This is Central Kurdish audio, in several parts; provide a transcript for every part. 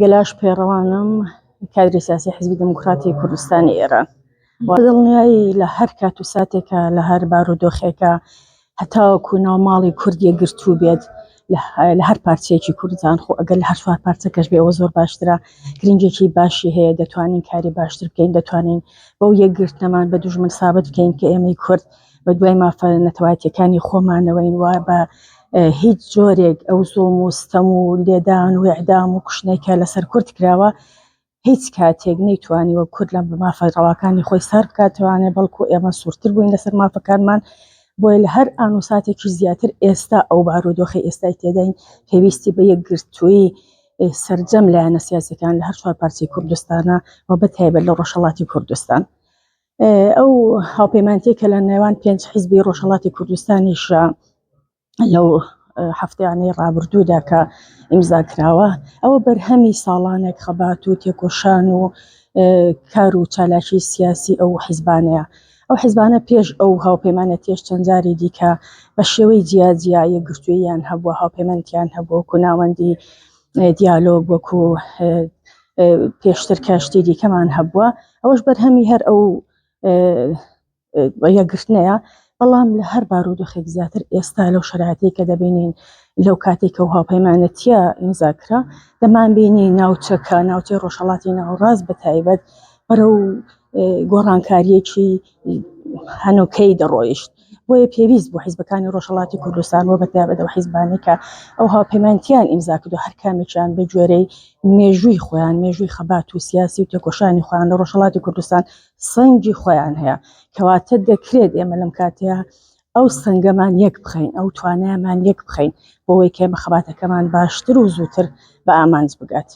گەلاش پێڕەوانم کادری سیاسی حزبی دموکراتی کوردستانی ئێران دڵنیایی لە هەر کات و ساتێکە لە هەر بار و دۆخێکە هەتاوەکو ناو ماڵی کوردیە گرتوو بێت لە هەر پارچەیەکی کوردستان خۆ ئەگەر لە هەر چوار پارچەکەش بێ ئەوە زۆر باشترە گرنگێکی باشی هەیە دەتوانین کاری باشتر بکەین دەتوانین بەو یەکگرتنەمان بە دوژمن سابت بکەین کە ئێمەی کورد بەدوای مافە نەتەوایەتیەکانی خۆمانەوەین وا بە هیچ جۆرێک ئەو زۆم و ستەم و لێدان و ئەعدام و کوشتنێکە لەسەر کورد کراوە هیچ کاتێک نەیتوانی وە کورد لە مافە ڕەواکانی خۆی سار بکاتوانێ بەڵکو ئێمە سوورتر بووین لەسەر مافەکانمان بۆیە لە هەر ئان و ساتێکی زیاتر ئێستا ئەو بارودۆخی ئێستای تێداین پێویستی بە یەکگرتووی سرجەم لایەنە سیاسەکان لە هەر چوار پارچی کوردستانە و بەتایبەت لە ڕۆژهڵاتی کوردستان. ئەو هاوپەیمانتیە کە لە نێوان پێنج حیزبی ڕۆژهڵاتی کوردستانیش لەو هەفتیانەی ڕابردوودا کە ئیمزا کراوە ئەوە بەرهەمی ساڵانێک خەبات و تێکۆشان و کار و چالاکی سیاسی ئەو حیزبانەیە ئەو حیزبانە پێش ئەو هاوپەیمانە تێش چەندجاری دیکە بە شێوەی جیاجیا یەکگرتوویان هەبووە هاوپەیمانتیان هەبوو کوناوەندی دیالۆگ وەکو پێشتر کەشتی دیکەمان هەبووە ئەوەش بەرهەمی هەر ئەو یەکگرتنەیە بەڵام لە هەر بارودۆخێک زیاتر ئێستا لەو شراتی کە دەبینین لەو کاتێکە و هاوپەیمانەتە ئیمزاکرا دەمان بینی ناوچەکە ناوچەی ڕۆژهڵاتی ناوڕاست بە تایبەت بەرە و گۆڕانکاریەکی هەنوکەی دەڕۆیشت. بۆیە پێویست بوو حیزبەکانی ڕۆژهەڵاتی کوردستان و بەتایبەت ئەو حیزبانەی کە ئەو هاوپەیمانیان ئیمزا کردووە هەر کامێکیان بە گوێرەی مێژووی خۆیان مێژووی خەبات و سیاسی و تێکۆشانی خۆیان لە ڕۆژهەڵاتی کوردستان سەنگی خۆیان هەیە کەواتە دەکرێت ئێمە لەم کاتەیە ئەو سنگەمان یەک بخەین ئەو توانایمان یەک بخەین بۆەوەی کە بە خەباتەکەمان باشتر و زووتر بە ئامانج بگات.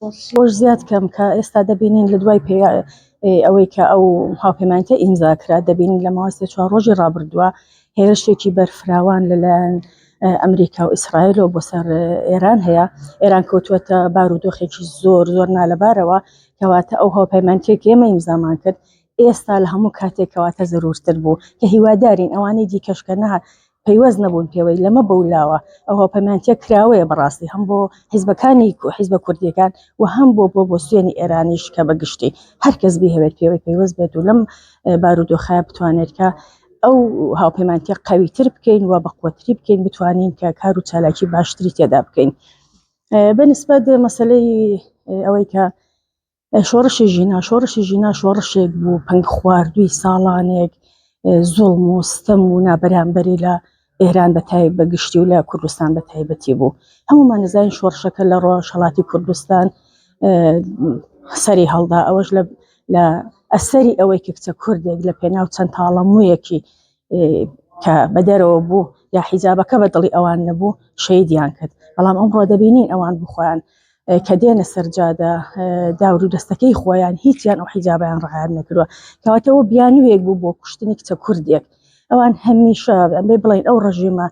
ئەوەش زیاد کەم کە ئێستا دەبینین لە دوای پێ ئەوەی کە ئەو هاوپەمانتە ئیمزا کرا دەبینین لە ماوەسێ چوار ڕۆژی ڕابردووە هێرشێکی بەرفراوان لەلایەن ئەمریکا و ئیسرائیل و بۆ سەر ئێران هەیە ئێران کەوتوەتە بارودۆخێکی زۆر زۆر نالەبارەوە کەواتە ئەو هاوپەیمانتێک ئێمە ئیمزامان کرد ئێستا لە هەموو کاتێکەواتە زەرورتر بوو کە هیوادارین ئەوانەی دیکەشکە نەهات پەیوەست نەبوون پێوەی لەمە بەولاوە ئەو هاوپەیمانتیە کراوەیە بەڕاستی هەم بۆ حیزبەکانی حیزبە کوردیەکان و هەم بۆ بۆ بۆ سوێنی ئێرانیش کە بە گشتی هەر کەس بیهەوێت پێوەی پەیوەست بێت و لەم بارودۆخە بتوانێت کە ئەو هاوپەیمانتیە قویتر بکەین و بە قوتری بکەین بتوانین کە کار و چالاکی باشتری تێدا بکەین بەنسبەت مەسلەی ئەوەی کە شۆڕشی ژینا شۆڕشی ژینا شۆڕشێک بوو پەنگ خواردووی ساڵانێک زۆڵم و ستەم و نابەرامبەری لە ئێران بە تایب بە گشتی و لە کوردستان بە تایبەتی بوو هەمومان نزان شۆڕشەکە لە ڕۆژهڵاتی کوردستان سەری هەڵدا ئەوەش لە لە ئەسەری ئەوەی کە کچە کوردێک لە پێناو چەند تاڵەمویەکی کە بە دەرەوە بوو یا حیجابەکە بە دڵی ئەوان نەبوو شەیدیان کرد بەڵام ئەمڕۆ دەبینین ئەوان بخۆیان کە دێنە سەرجادە داور و دەستەکەی خۆیان هیچیان ئەو حیجابیان ڕعاان نەکردوە کەواتەوە بیانوێک بوو بۆ کوشتنی کچە کوردێک ئەوان هەمیشە ئەمێ بڵین ئەو ڕژیمە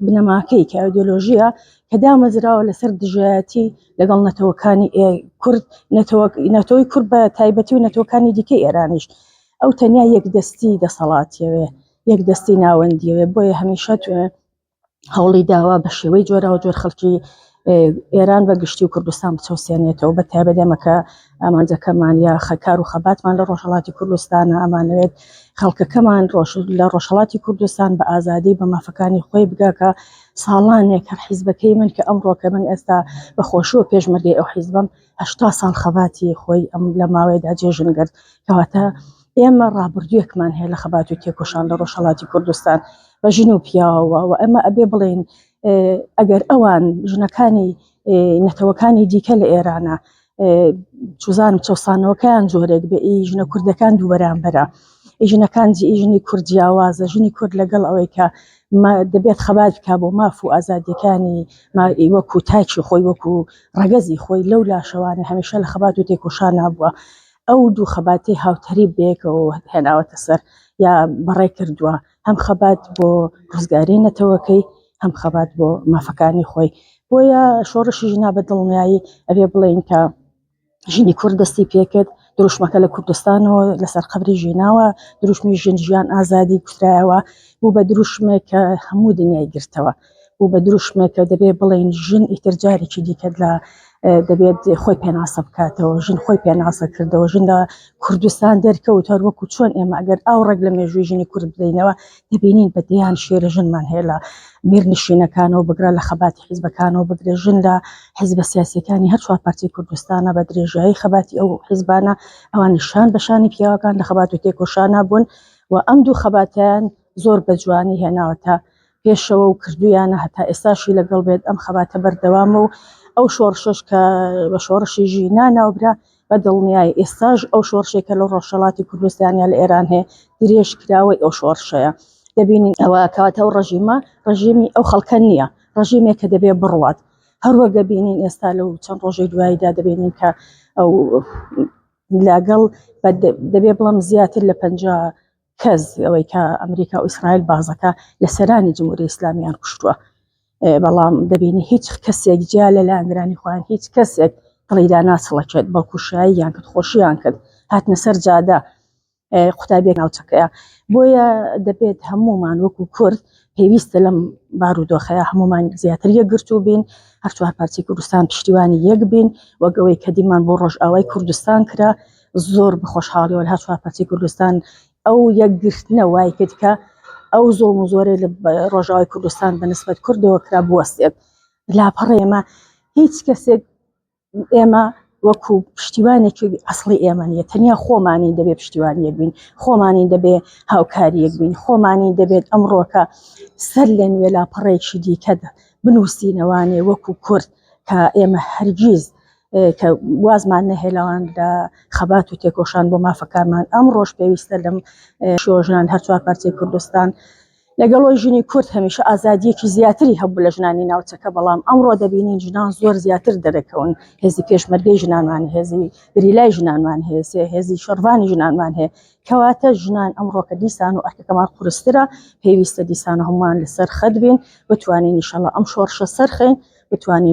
بنەماکەی کە ئەودۆلۆژیە کە دامەزراوە لەسەر دژایەتی لەگەڵ نەتەوەکانی کورد نەتەوەی کورد بە تایبەتی و نەتەوەکانی دیکە ئێرانیش ئەو تەنیا یەک دەستی دەسەڵاتیەوێ یەک دەستی ناوەندیەوێ بۆیە هەمیشە هەوڵی داوا بە شێوەی جۆراو جۆر خەڵکی ئێران بە گشتی و کوردستان بچەوسێنێتەوە بە تایبەت ئەمەکە ئامانجەکەمان یا خەکار و خەباتمان لە ڕۆژهڵاتی کوردستانە ئەمانوێت خەڵکەکەمان ڕۆژ لە ڕۆژهڵاتی کوردستان بە ئازادی بە مافەکانی خۆی بگاکە ساڵانێک هەر حیزبەکەی من کە ئەم ڕۆکە من ئێستا بەخۆشیەوە پێشمەرگی ئەو حیزبم هەشتا ساڵ خەباتی خۆی ئەم لە ماوەیەدا جێژن گرت کەواتە ئێمە ڕابردوویەکمان هەیە لە خەبات و تێکۆشان لە ڕۆژهڵاتی کوردستان بە ژن و پیاوەوە و ئەمە ئەبێ بڵێن ئەگەر ئەوان ژنەکانی نەتەوەکانی دیکە لە ئێرانە چزانم چەسانەوەکەیان جۆرێک بە ئی ژنە کوردەکان دوو بەرامبەرە ژنەکان جی ژنی کوردیاوازە ژنی کورد لەگەڵ ئەوەی کە دەبێت خەبات بکات بۆ ماف و ئازادیەکانی مائی وەکو تاکی خۆی وەکو ڕەگەزی خۆی لەو لاشەوانە هەمیشە لە خەبات و تێکۆشان نبووە ئەو دوو خەباتی هاوتەریب بەیەکەوە هێناوەتە سەر یا بەڕێ کردووە هەم خەبات بۆ ڕزگاری نەتەوەکەی هەم خەبات بۆ مافەکانی خۆی بۆیە شۆڕشی ژنا بە دڵنیایی ئەبێ بڵێین کە ژنی کورد دەستی پێکرد دروشمەکە لە کوردستانەوە لەسەر قبری ژیناوە دروشمی ژن ژیان ئازادی کوترایەوە بوو بە دروشمێک کە هەموو دنیای گرتەوە بوو بە دروشمێک کە دەبێ بڵین ژن ئیتر جارێکی دیکە لە دەبێت خۆی پێناسە بکاتەوە ژن خۆی پێناسە کردەوە ژن لە کوردستان دەرکەوت هەروەکو چۆن ئێمە ئەگەر ئاو ڕێک لە مێژووی ژنی کورد بدەینەوە دەبینین بە دەیان شێرە ژنمان هەیە لە میرنشینەکانەوە بگرە لە خەباتی حیزبەکانەوە بگرە ژن لە حیزبە سیاسەکانی هەر چوار پارچەی کوردستانە بە درێژایی خەباتی ئەو حیزبانە ئەوان نیشان بەشانی پیاوەکان لە خەبات و تێکۆشانە بوون و ئەم دوو خەباتیان زۆر بە جوانی هێناوەتە پێشەوە و کردویانە هەتا ئێستاشی لەگەڵ بێت ئەم خەباتە بەردەوامە و ئەو شۆڕشش کە بە شۆڕشی ژینا ناوبرا بە دڵنیایی ئێستاش ئەو شۆڕشەی کە لە ڕۆژهەڵاتی کوردستان یا لە ئێران هەیە، درێژکراوەی ئەو شۆڕشەیە. دەبینین ئەوە کەواتە ئەو ڕژیمە، ڕژیمی ئەو خەڵکە نییە، ڕژیمێکە دەبێ بڕوات. هەروەک دەبینین ئێستا لەو چەند ڕۆژەی دواییدا دەبینین کە ئەو لەگەڵ دەبێ بڵێم زیاتر لە پەنجا کەس ئەوەی کە ئەمریکا و ئیسرائیل بازەکە لە سەرانی جمهوری ئیسلامیان کوشتووە بەڵام دەبینی هیچ کەسێک جیا لە لاندرانی خۆیان هیچ کەسێک دڵیدا ناچڵەکێت بەڵکوشایی یان کرد خۆشیان کرد هاتنە سەر جادە قوتابێک ناوچەکەیە بۆیە دەبێت هەمومان وەکو کورد پێویستە لەم بارودۆخەیە هەمومان زیاتر یەکگرتو بین هەرچوار پارچی کوردستان پشتیوانی یەک بین وەگەوەی کە دیمان بۆ ڕۆژئاوای کوردستان کرا زۆر بە خۆشحاڵیەوە هەر چوار پارچەی کوردستان ئەو یەکگرتنە وای کرد کە ئەو زۆڵم و زۆرێ لە ڕۆژاوای کوردستان بە نسبەت کردەوە کرا بوەستێت لاپەڕی ئێمە هیچ کەسێک ئێمە وەکو پشتیوانێکی ئەسڵی ئێمە نیە تەنیا خۆمانی دەبێت پشتیوانیەک بین خۆمانی دەبێت هاوکاریەک بین خۆمانی دەبێت ئەمڕۆکە سەر لە نوێ لاپەڕێکی دیکەدا بنووسینەوانێ وەکو کورد کە ئێمە هەرگیز کە وازمان نەهێلاوان لە خەبات و تێکۆشان بۆ مافەکانمان ئەم ڕۆژ پێویستە لەم شۆژنان هەرچوار پارچەی کوردستان لەگەڵۆی ژنی کورد هەمیشە ئازادیەکی زیاتری هەبوو لە ژنانی ناوچەکە بەڵام ئەمڕۆ دەبینین ژنان زۆر زیاتر دەرەکەون هێزی پێشمەرگەی ژنانمان هێزی گریلای ژنانمان هێسێ هێزی شەرڤانی ژنانمان هەیە کەواتە ژنان ئەمڕۆکە دیسان و ئەرکەکەمان قورسترە پێویستە دیسان هەمومان لەسەر خەت بین بتوانین نیشەڵە ئەم شۆڕشە سەرخین بتوانین